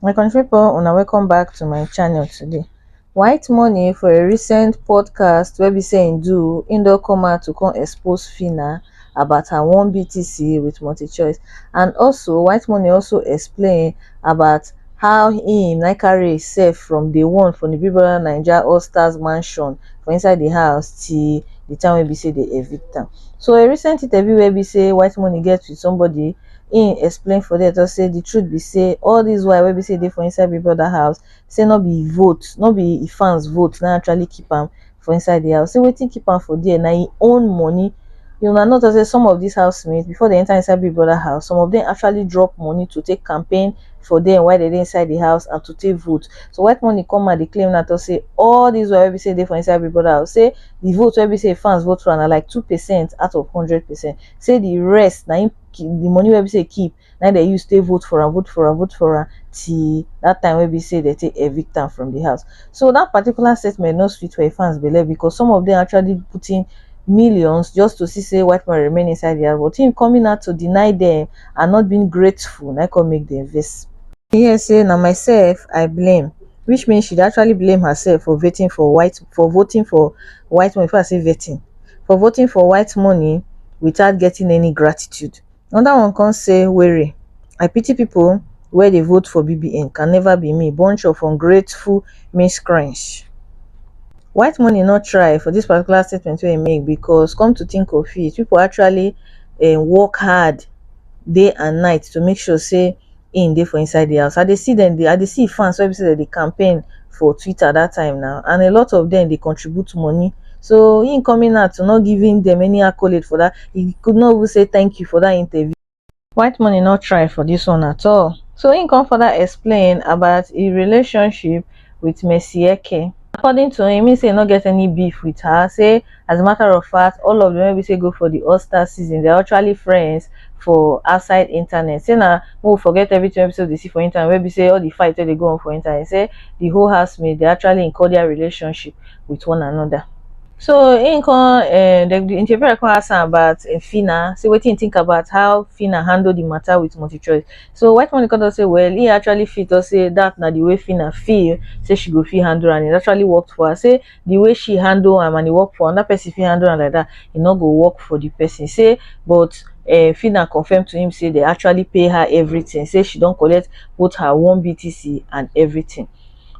my country people una welcome back to my channel today white money for a recent podcast wey be say im do im don come out to come expose fina about her one btc with multichoice and also white money also explain about how im nycarry sef from day one for di big brother naija all stars mansion for inside di house till di time wey be sey dem evict am. So a recent interview wey be sey white money get with somebody im explain for there talk sey di truth be sey all dis while wey be sey e dey for inside big brother house sey no be vote no be fans vote na actually keep am for inside the house say wetin keep am for there na im own money you na not say some of these housemates before they enter inside big brother house some of them actually drop money to take campaign for them while they dey inside the house and to take vote so white money come and dey claim na to say all these wey be say dey for inside big brother house say the vote wey be say fans vote for na like two percent out of hundred percent say the rest na im the money wey be say keep na im dem use take vote for am, vote for am, vote for am till that time wey be say dem take evict am from the house. So that particular statement no sweet for im fans belle because some of them actually put in millions just to see say white man remain inside the house but him coming out to deny them and not being grateful na come make them vex. He hear say na myself I blame which means she dey actually blame herself for vetting for white for voting for white money before I say vetting for voting for white money without getting any gratitude Another one come say Were I pity people wey dey vote for BBN can never be me bunch of ungrateful miscreants. White money no try for this particular statement wey he make because come to think of it people actually um work hard day and night to make sure say im dey for inside the house. I dey see dem dey, I dey see fans wey be say dem dey campaign for Twitter that time now and a lot of them dey contribute money. So him coming out to not giving them any accolade for that, he could not even say thank you for that interview. White money not try for this one at all. So him come further explain about his relationship with Mercy Eke. According to him, he say he no get any beef with her, say as a matter of fact all of them wey be say go for the all star season they're actually friends for outside internet say na we forget everything wey be say we dey see for internet wey be say all the fight wey dey go on for internet say the whole housemate dey actually in cordial relationship with one another so im come um the, the interviewer come ask am about um, Fina say wetin he think about how Fina handle the matter with multi-choice so white money come talk say well he actually feel talk say that na the way Fina feel say she go fit handle am it actually worked for her say the way she handle am and e work for another person fit handle am like that e no go work for the person say but uh, Fina confirmed to him say they actually pay her everything say she don collect both her one BTC and everything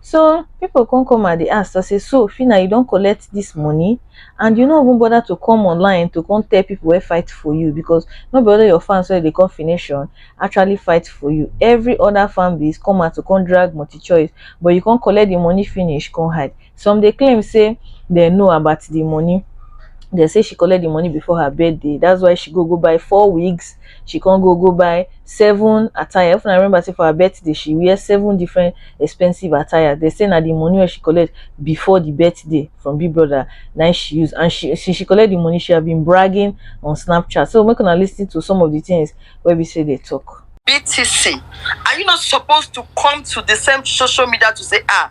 so people come come and they ask I say so Fina you don collect this money and you no even bother to come online to come tell people wey fight for you because no be only your fans wey dey come fination actually fight for you every other fan base come out to come drag multi choice but you come collect the money finish come hide Some dey claim say dem know about the money. Dem say she collect the money before her birthday. That's why she go go buy four wigs. She come go go buy seven attire. If I remember say for her birthday, she wear seven different expensive attire. They say na the money where she collect before the birthday from Big Brother. Now she use and she since she collect the money, she have been bragging on Snapchat. So we're gonna listen to some of the things where we say they talk. BTC, are you not supposed to come to the same social media to say ah?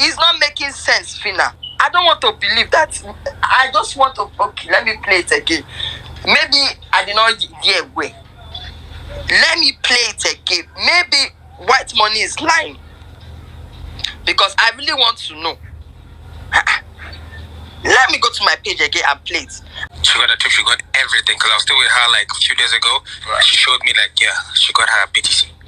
is not making sense fina i don't want to believe that i just want to okay let me play it again maybe i did not hear well let me play it again maybe white money is lying because i really want to know let me go to my page again and play it she got a trip, she got everything. Cause I was still with her like a few days ago. Right. She showed me like yeah, she got her BTC.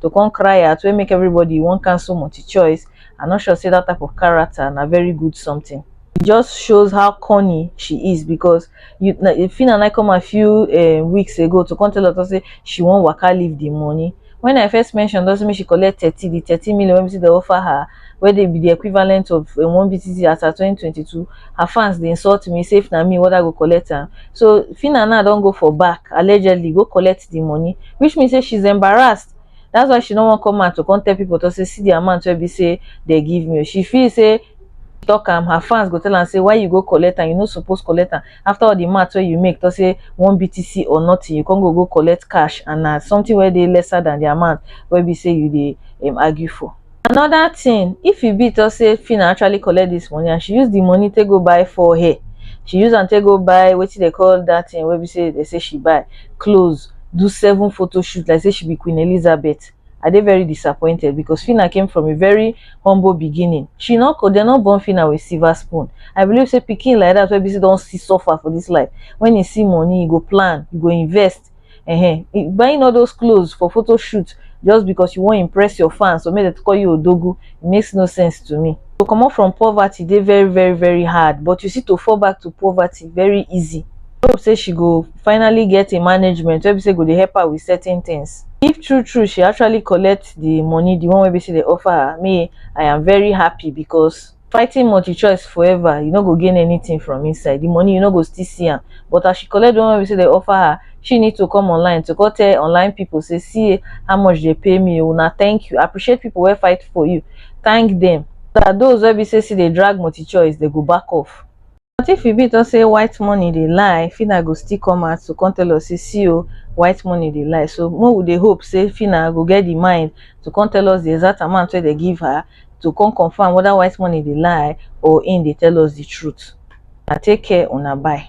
to come cry out wey make everybody wan cancel multi-choice i no sure say that type of character na very good something it just shows how corny she is because you Phyna Naidoo come a few uh, weeks ago to come tell us say she wan waka leave the money when i first mentioned, doesn't mean she collect thirty the thirty million wey be say they offer her wey dey be di equivalent of um one BTC as at twenty twenty two, her fans dey insult me say if na me whether I go collect am. So Phyna now don go for back allegedly go collect di money which mean say she is embarrassed that's why she no wan come out to come tell people to say see di amount wey be say dey give me, she feel say talk am her fans go tell am say why you go collect am you no suppose collect am after all di mouth wey you make talk say one BTC or nothing you come go go collect cash and na something wey dey lesser than di amount wey be say you dey um argue for. another thing if e be talk say Fina actually collect this money and she use the money take go buy four hair she use am take go buy wetin they call that thing wey be say they say she buy clothes do seven photo shoot like say she be Queen Elizabeth I dey very disappointed because Fina came from a very humble beginning she no they no born Fina with silver spoon I believe say pikin like that wey be say don see suffer for this life when e see money e go plan e go invest Ehen, buying all those clothes for photo shoot just because you wan impress your fans or make dem call you odogu e makes no sense to me. To comot from poverty dey very very very hard but you see to fall back to poverty very easy. I hope say she go finally get a management wey be say go dey help her with certain things. If true true she actually collect the money, the one wey be say dey offer her, me I am very happy because. fighting multichoice forever you no go gain anything from inside the money you no go still see am but as she collect the one wey say they offer her she need to come online to go tell online people say see how much they pay me una oh, thank you appreciate people wey fight for you thank them that those wey be say see they drag multichoice they go back off But if e be to say white money dey lie, Phyna go still come out to come tell us say see o, white money dey lie. So make we dey hope say Phyna go get the mind to come tell us the exact amount wey they give her to come confirm whether white money dey lie or im dey tell us the truth. Na take care una bye.